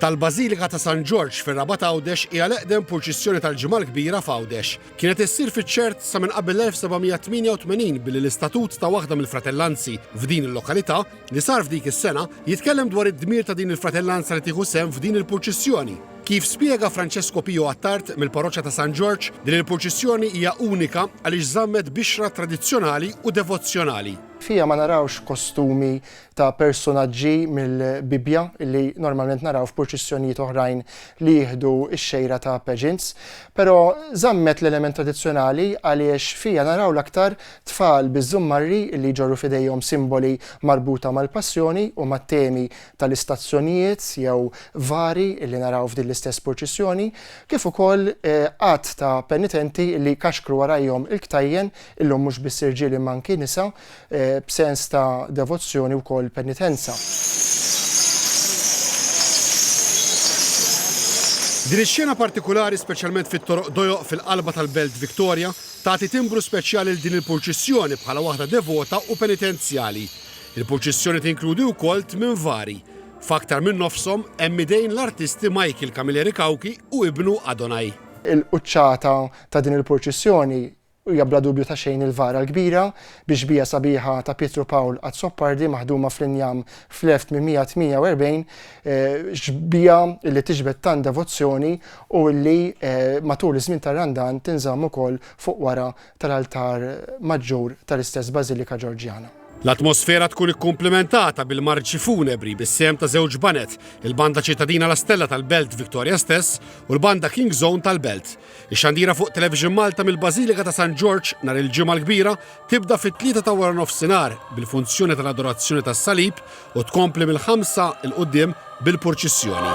tal-Bażilika ta' San Ġorġ fir-Rabat Għawdex hija l-eqdem purċissjoni tal-Ġimgħa l-Kbira f'Għawdex. Kienet issir fiċ-ċert sa minn qabel l-1788 billi l-istatut ta' waħda mill-fratellanzi f'din il-lokalità li sar f'dik is-sena jitkellem dwar id-dmir ta' din il-fratellanza li tieħu sehem f'din il-purċissjoni. Kif spjega Francesco Pio Attard mill-Parroċċa ta' San Ġorġ, din il-purċissjoni hija unika għaliex żammet bixra tradizzjonali u devozzjonali. Fiha ma narawx kostumi ta' persunaġġi mill-Bibbja li normalment naraw f'purċissjonijiet oħrajn li jieħdu x-xejra ta' pageants, però żammet l-element tradizzjonali għaliex fiha naraw l-aktar tfal biż-żummarri li jġorru f'idejhom simboli marbuta mal-Passjoni u mat-temi tal-istazzjonijiet jew vari li naraw f'din l-istess purċissjoni, kif ukoll għadd ta' penitenti li jkaxkru warajhom il-ktajjen, illum mhux biss irġiel imma anki nisa, b'sens ta' devozzjoni wkoll penitenza. Din ix-xena partikulari, speċjalment fit-toroq dojoq fil-qalba tal-Belt Victoria, tagħti timbru speċjali lil din il-purċissjoni bħala waħda devota u penitenzjali. Il-purċissjoni tinkludi wkoll tmien vari. F'aktar minn nofshom hemm idejn l-artisti Michael Camilleri Cauchi u ibnu Adonai. Il-quċċata ta' din il-purċissjoni Hija bla dubju ta' xejn il-vara l-kbira bi xbieha sabiħa ta' Pietru Pawl Azzopardi maħduma fl-injam fl-1848, xbieha li tiġbed tant devozzjoni u li matul iż-żmien tar-Randan tinżamm ukoll fuq wara tal-altar maġġur tal-istess bażilika Ġorġjana. L-atmosfera tkun ikkumplimentata bil-marċi funebri bis-sehem ta' żewġ baned, il-Banda Ċittadina La Stella tal-Belt Victoria stess u l-Banda King's Own tal-Belt. Ix-xandira fuq Television Malta mill-Bażilika ta' San Ġorġ nhar il-Ġimgħa l-Kbira tibda fit-tlieta ta' waranofsinhar bil-funzjoni tal-Adorazzjoni tas-Salib u tkompli mill-ħamsa 'l quddiem bil-purċissjoni.